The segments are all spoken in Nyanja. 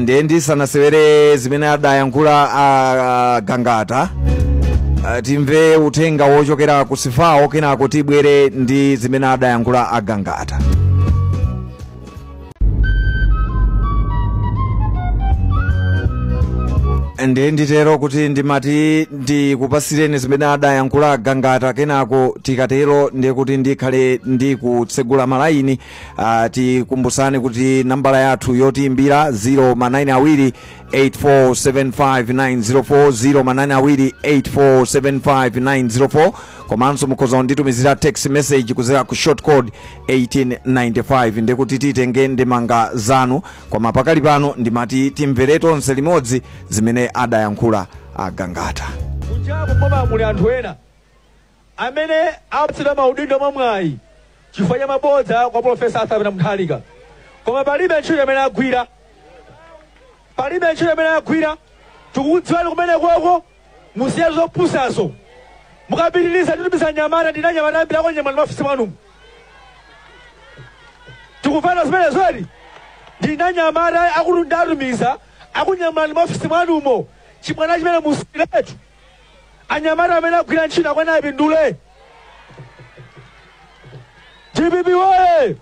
ndiye ndisanasewere zimene adayankhula a gangata ah, timve uthenga wochokera ku sifawo kenako tibwere ndi zimene adayankhula a gangata ndiye nditero kuti ndimati ndikupasireni zimene adayankhula gangata kenako tikatero ndiye kuti ndikhale ndikutsegula malayini Uh, tikumbusani kuti nambala yathu yotiimbira ndi 0 ma 9 awiri 8475904 ma 9 awiri 8475904 komanso mukhoza kunditumizira text message kuzera ku short code 1895 ndikuti titenge ndemanga zanu koma pakali pano ndimati timvere tonse limodzi zimene adayankhula a Gangata kujaku koma kuli anthu ena amene apatsidwa maudindo mwa mwayi chifukwa cha mabodza kwa Profesa Arthur Peter Mutharika, koma palibe ntchito imene agwira, palibe ntchito imene agwira. Tikukudziwani kumeneko musiyetu zopusazo, mukapitiriza titumiza anyamata ndili ndi anyamata ambiri akunyamulani m'maofesi mwanumo tikumvana zimenezo kodi ndili ndi anyamata okuti nditatumiza akunyamulani m'maofesi mwanumo chibwana chimenecho musiyiretu anyamata amene agwira ntchito akuyenera apindule dpp woye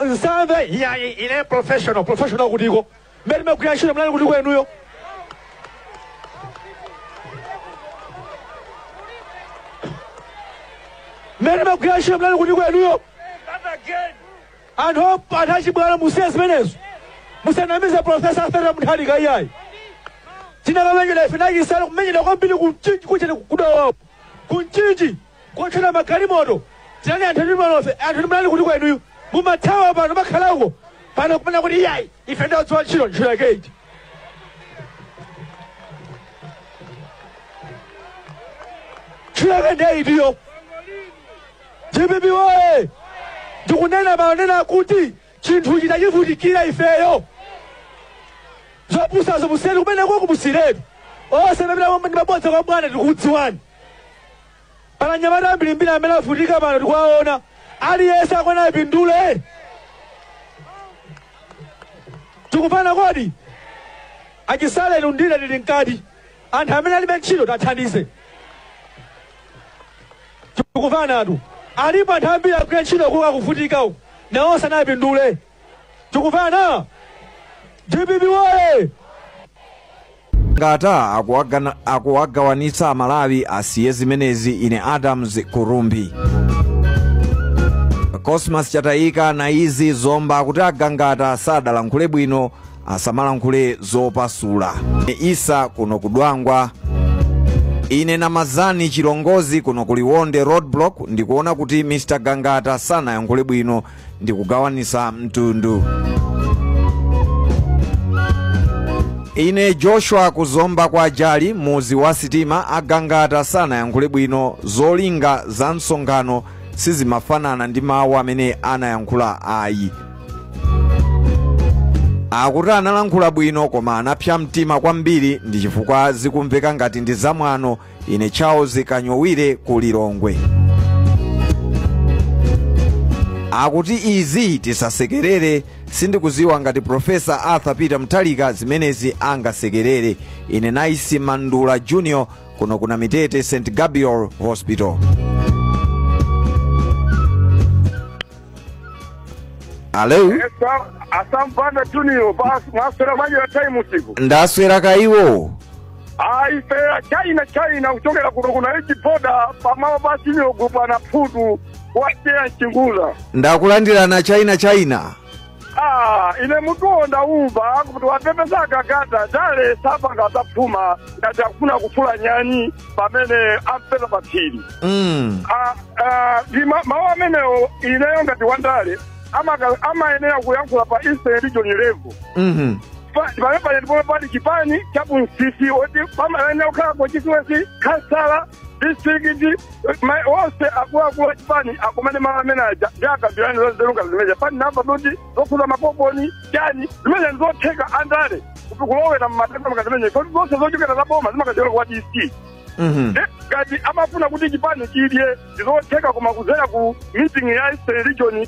nsambe ya ine professional professional kutiko mmene timagwira ntchito munali kuti kodi inuyo mmene timagwira ntchito munali kuti kodi inuyo Anthu op, anthu achibwana musiye zimenezo. Musanamize Professor Arthur Mutharika iyayi. Tinakamenyera ife ndi a Chisale kumenyera kwambiri ku Mchinji kuthera ku Dowa. Ku Mchinji kuotcheredwa magalimoto. Tinali anthu ndi malofe, anthu ndi munali kuti kodi inuyo. Mumathawa pano mumakhala uko. Pano kumanena kuti iyayi ife timadziwa ntchito ntchito yake iti. Ntchito yake ndiye itiyo. Dpp woye! Tikunena pano nena kuti chinthuchi tachivutikira ifeyo. Zopusazo musiyiretu kumeneko musiyiretu. Onse amene amapita ndi mabodza kwa bwana tikukudziwani. Pali anyamata ambirimbiri amene avutika pano tikuwaona. Aliyense akuyenera apindule. Tikumvana kodi? A Chisale inu ndi ine tili mkati. Anthu amene alibe ntchito tiwathandize. Tikuvanatu. Alipo anthu ambiri akugwira ntchito kuka kuvutika uku. Nawo sanapindule. Tikuvana. DPP woye. gangata akuwagana- akuwagawanitsa amalawi asiye zimenezi ine adams kurumbi cosmas chatayika naizi zomba kuti agangata sadalankhule bwino asamalankhule zopasula ine isa kuno ku dwangwa ine namazani chilongozi kuno ku liwonde roadblock ndikuona kuti mr gangata sanayankhule bwino ndikugawanisa mtundu ine joshua ku zomba kwa jali muzi wa sitima agangata sanayankhule bwino zolinga za msonkhano sizimafanana ndi mawu amene anayankhula ayi akuti analankhula bwino koma anapsa mtima kwambiri ndi chifukwa zikumveka ngati ndi zamwano ine charles kanyowire ku lilongwe akuti izi tisasekerere sindikuziwa ngati profesa arthur peter mutharika zimenezi angasekerere ine naisi mandula junior kuno ku namitete st gabriel hospital alo asampanda junior basi mwaswera manje na time usiku ndaswera kaiwo aife china china kuchokera kuno kuna ichi boda pamao basi nyogo bwana phudu wateya nchingula ndakulandirana china china Ah, ine mutuwo ndaumva kuti wapepesa agangata ndale sapanga zaphuma ngati akufuna kufula nyani pamene ampeza pa phiri Mm. Ah, ah, ndi ma- mawu amenewo ineyo ngati wandale amaka- amayenera kuyankhula pa eastern region level Mhm. pamene pali chipani cha bunsisi oti pamayenera kukhala constituency khansala distrikiti ma- onse akuluakulu achipani akumane malo amene aja ndi akambirane zozeruka zimeneja pani namba kuti zokhuza makuponi chani zimene ndizotheka andale kuti kulowera mmatenda makazimenye kodi zonse zochokera za boma zimakachokera kwa dc Mhm. Eh, ngati amafuna kuti chipani chidye ndizotheka koma kudzera ku meeting ya eastern region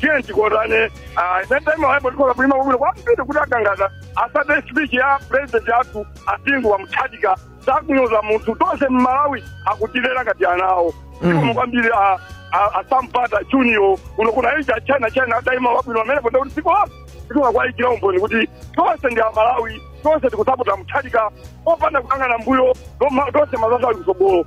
tiyeni tikondane ah, netime waipo tikhoza kulima kwabwino kwambiri kuti agangata asate speech ya president athu a bingu wa mutharika sakunyoza munthu tonse mmalawi akutilera ngati ana awo zikomo kwambiri ah, ah, asampanda junior kuno kuna ichi achina china ataima wabwino amene ponde kuti dziko lonse tikhoza kuwayikira umboni kuti tonse ndi amalawi tonse tikusapota mutharika opanda kukangana mbuyo toma- tonse mazazo ali kusogolo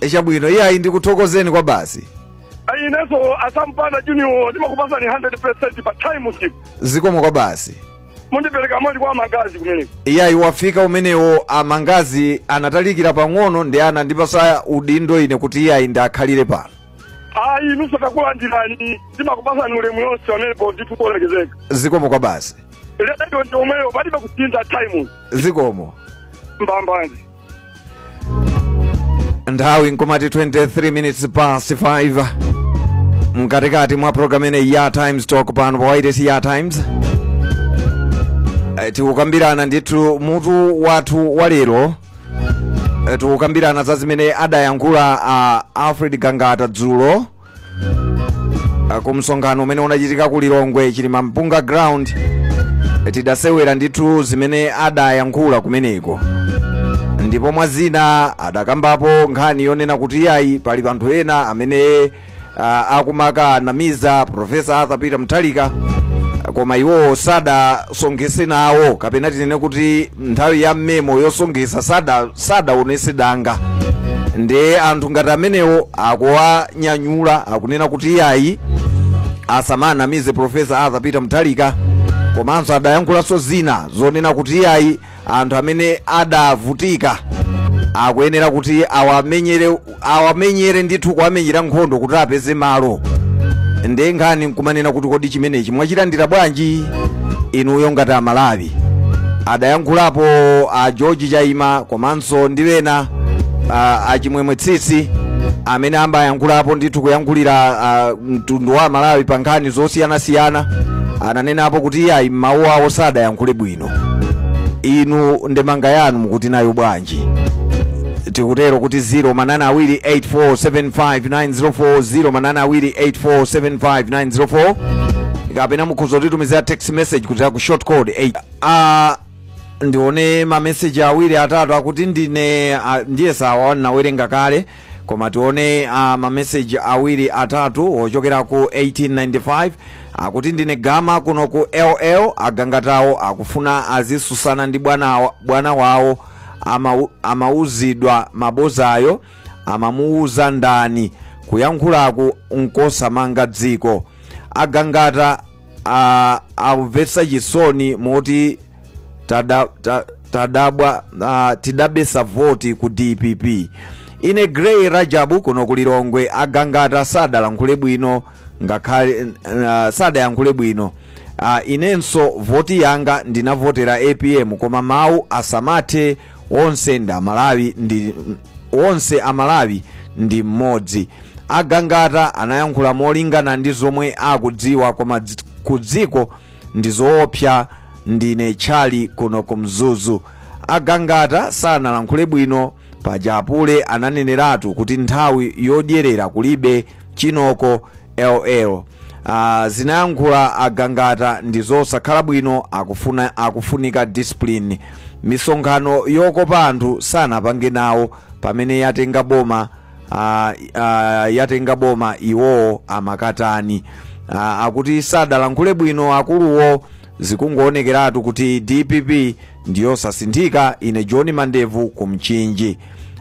E, chabwino iyayi ndikuthokozeni kwabasi Ayi, inenso asampanda junior ndimakupasani 100 pa time skip zikomo kwabasi mundipereka moni kwa amangazi kumeneko iyayi wafika umenewo amangazi anatalikira pang'ono ndiye anandipasa udindo ine kuti iyayi ndiwakhalire pano ayi inunso takulandirani ndimakupasani ulemu yonse pamenepo ndithu olemekezeka zikomo kwabasi lero ndi omweyo palibe kusintha time zikomo mbambande nthawi nkumati 23 minutes past 5 mkatikati mwa programu imeneyi ya times talk pano pa wailesi ya times Eh, tikukambirana ndithu mutu wathu wa lero Eh, tikukambirana za zimene adayankhula a alfred gangata dzulo Ah, ku msonkhano umene unachitika ku lilongwe chilimampunga ground eh, tidasewera ndithu zimene adayankhula kumeneko ndipo mwa zina adakambapo nkhani yonena kuti yayi pali anthu ena amene ah, akumakanamiza profesa arthur peter mutharika koma iwowo sadasonkhese nawo kapena tinene kuti nthawi ya memo yosonkhesa sada sadaonese danga ndiye anthu ngati amenewo akuwanyanyula akunena kuti iyayi asamanamize profesa arthur peter mutharika komanso adayankhulanso zina zonena kuti iyayi anthu amene adavutika akuyenera kuti awamenyere awamenyere ndithu kuwamenyera nkhondo kuti apeze malo ndiye nkhani nkumanena kuti kodi chimenechi mwachilandira bwanji inuyo ngati amalawi adayankhulapo a george chaima komanso ndi wena a- a chimwemwe tsitsi amene amayankhulapo ndithu kuyankhulira a, mtundu wa amalawi pa nkhani zosiyanasiyana ananenapo kuti iyayi mawu awo sadayankhule bwino ntchito inu ndemanga yanu mukuti nayo bwanji tikutero kuti 0 manaini awiri 8475904 0 manaini awiri 8475904 kapena mukhoza kutitumizira text message kupita ku short code 8 ah, ndione mameseji awiri atatu akuti ndine ah, ndiyesa awa nawerenga kale koma tione uh, mameseji awiri atatu ochokera ku 1895 akuti ndine gama kuno ku ll agangatawo akufuna azisusana ndi bwana, bwana wawo amau- amauzidwa mabozayo amamuuza ndani kuyankhulaku nkosamanga dziko agangata uh, amvetsa chisoni moti tada, ta, tadabwa uh, tidabesa voti ku dpp ine grey rajabu kuno ku lilongwe agangata sadalankhule bwino ngakhale uh, sadayankhule bwino uh, inenso voti yanga ndinavotera apm koma mawu asamathe onse ndi amalawi ndi onse amalawi ndi mmodzi agangata anayankhula molingana ndi zomwe akudziwa koma dzi- ku dziko ndi zoopsa ndine tchali kuno ku mzuzu agangata sanalankhule bwino paja apule ananeneratu kuti nthawi yodyerera kulibe chinoko ll uh, zimene anayankhula agangata ndi zosakhala bwino akufuna akufunika discipline misonkhano yokopa anthu sanapange nawo pamene yatenga boma ah, ah, yatenga boma iwowo amakatani ah, akuti sadalankhule bwino akuluwo zikungoonekeratu kuti dpp ndiyosasinthika ine john mandevu ku Mchinji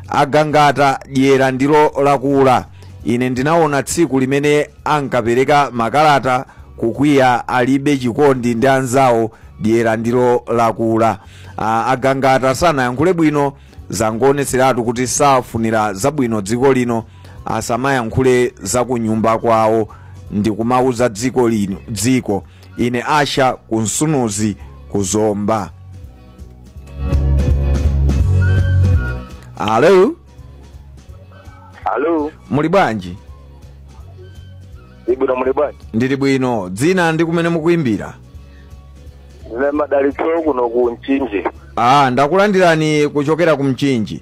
agangata dyera ndilo lakula ine ndinaona tsiku limene ankapereka makalata kukwiya alibe chikondi ndi anzawo dyera ndilo lakula ah, agangata sanayankhule bwino zangoonetseratu kuti safunira zabwino dziko lino asamayankhule za kunyumba kwawo ndi kumauza dziko lino dziko ine asha kunsunuzi kuzomba alo Alo, muli bwanji ndili bwino muli bwanji? ndili bwino dzina ndi kumene mukuimbira Ndine madalitso kuno ku Mchinji. Ah, ndakulandirani kuchokera ku Mchinji.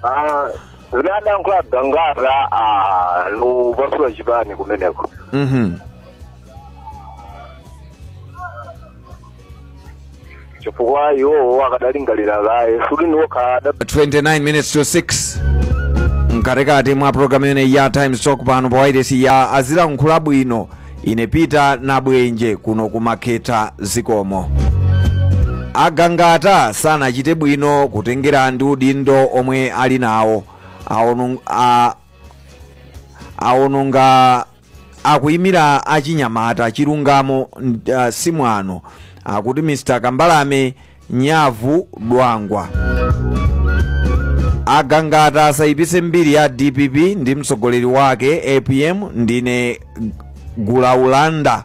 Ah, zimene adayankhula Gangata ah, ndi kupasula chipani kumeneko. Mhm. chifukwa iwowo akadalingalira kaye kuti si okha ada 29 minutes to 6 mkatikati mwa programu ino ya times talk pano pa wairesi ya azilankhula bwino ine peter nabwenje kuno kumakhetha zikomo agangata sanachite bwino kutengera ndi udindo omwe ali nawo aonung- a- aononga akuyimira achinyamata chilungamo nd- ah, si mwano akuti mr kambalame nyavu dwangwa agangata asayipise mbiri ya dpp ndi mtsogoleri wake apm ndine gulaulanda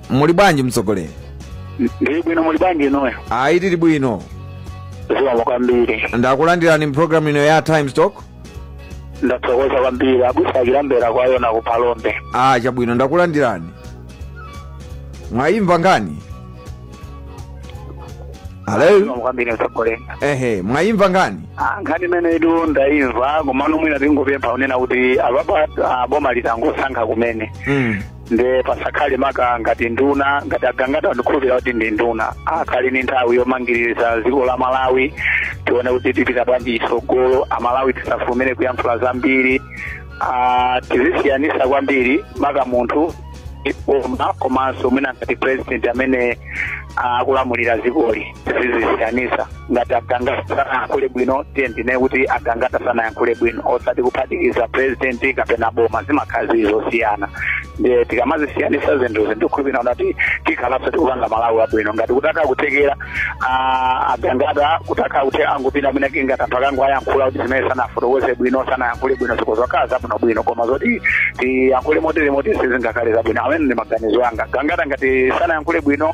muli bwanji mtsogoleri ndili bwino muli bwanji inuyo ayi tili bwino zikomo kwambiri ndakulandirani mu pulogalamu ino ya times talk ndathokoza kwambiri abusa a chilambera kwa yona ku phalombe ah chabwino ndakulandirani mwayimva nkhani halo zikomo kwambiri mtsogoleri ehe mwayimva nkhani Ah, nkhani imeneyitu ndayimva komano mwina tingopempha kunena kuti apapa ah, boma langosankha kumene mm. nde pasakhale maka ngati nduna ngati agangata ndikukhulupirira kuti ndi nduna akhale ni nthawi yomangiriza dziko la malawi tione kuti tipita bwanji chitsogolo amalawi tisafulumire kuyankhula zambiri Ah, tizisiyanisa kwambiri maka munthu ndi boma komanso mwina ngati president amene ah, akulamulira dzikoli tizisiyanisa ngati agangata sanayankhule bwino tiyeni tinene kuti agangata sanayankhule bwino osati kuphatikiza president kapena boma zimakhala zili zosiyana ndiye tikamazisiyanisa zinthu izi ndikhulupirira kuti tikhalanso tikupanga malawi abwino ngati kutakhala kuthekera ah, agangata kutakhala kuti angupita amene kingati anthu akangowayankhula kuti zimene sanafotokoze bwino sanayankhule bwino zikhoza kukhala zabwinobwino koma zoti tiyankhule motere moti izi sizingakhale zabwino amene ndi maganizo anga agangata ngati sanayankhule bwino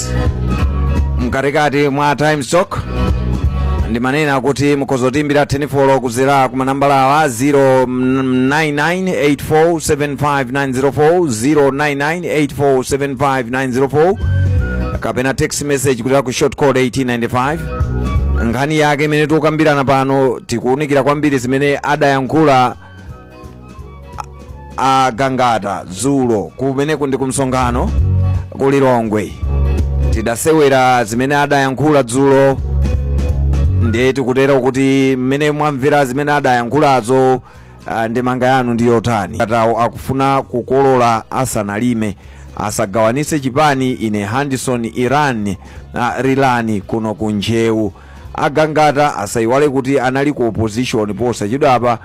mkatikati mwa times talk ndimanena kuti mukhoza kutiimbira telefoni kudzera ku manambala awa 0998475904 kapena text message kudzera ku short code 1895 nkhani yake imene tikukambirana pano tikuwunikira kwambiri zimene adayankhula agangata dzulo kumeneku ndi kumsonkhano ku lilongwe tidasewera zimene adayankhula dzulo ndiye tikutere kuti mmene mwamvera zimene adayankhulazo ah, ndi ndemanga yanu ndi yotani agangatawo akufuna kukolola asanalime asagawanise chipani ine handison iran ah, rilani kuno ku njewu agangata asayiwale kuti anali ku opposition posachedwapa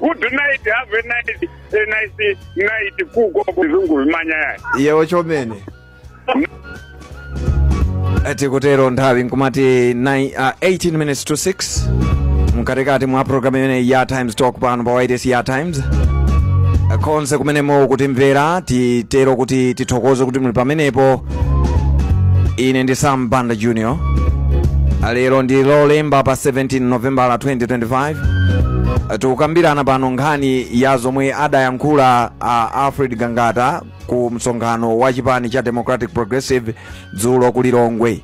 Good night, have a nice, a nice night. Kuko kuzungu vimanya yaya. yewo chomene tikutero nthawi ikumati nine- ah, 18 minutes to 6 mkatikati mwa programu imene ya times talk pano pa wailesi ya times konse kumene mukutimvera titero kuti tithokoze kuti muli pamenepo ine ndi sam banda junior lero ndi lolemba pa 17 novembala 2025 tikukambirana pano nkhani ya zomwe adayankhula a alfred gangata ku msonkhano wa chipani cha democratic progressive dzulo ku lilongwe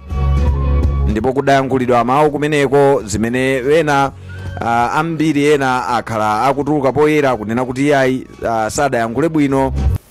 ndipo kudayankhulidwa mawu kumeneko zimene ena uh, ambiri ena akhala akutuluka poyera kunena kuti iyayi uh, sadayankhule bwino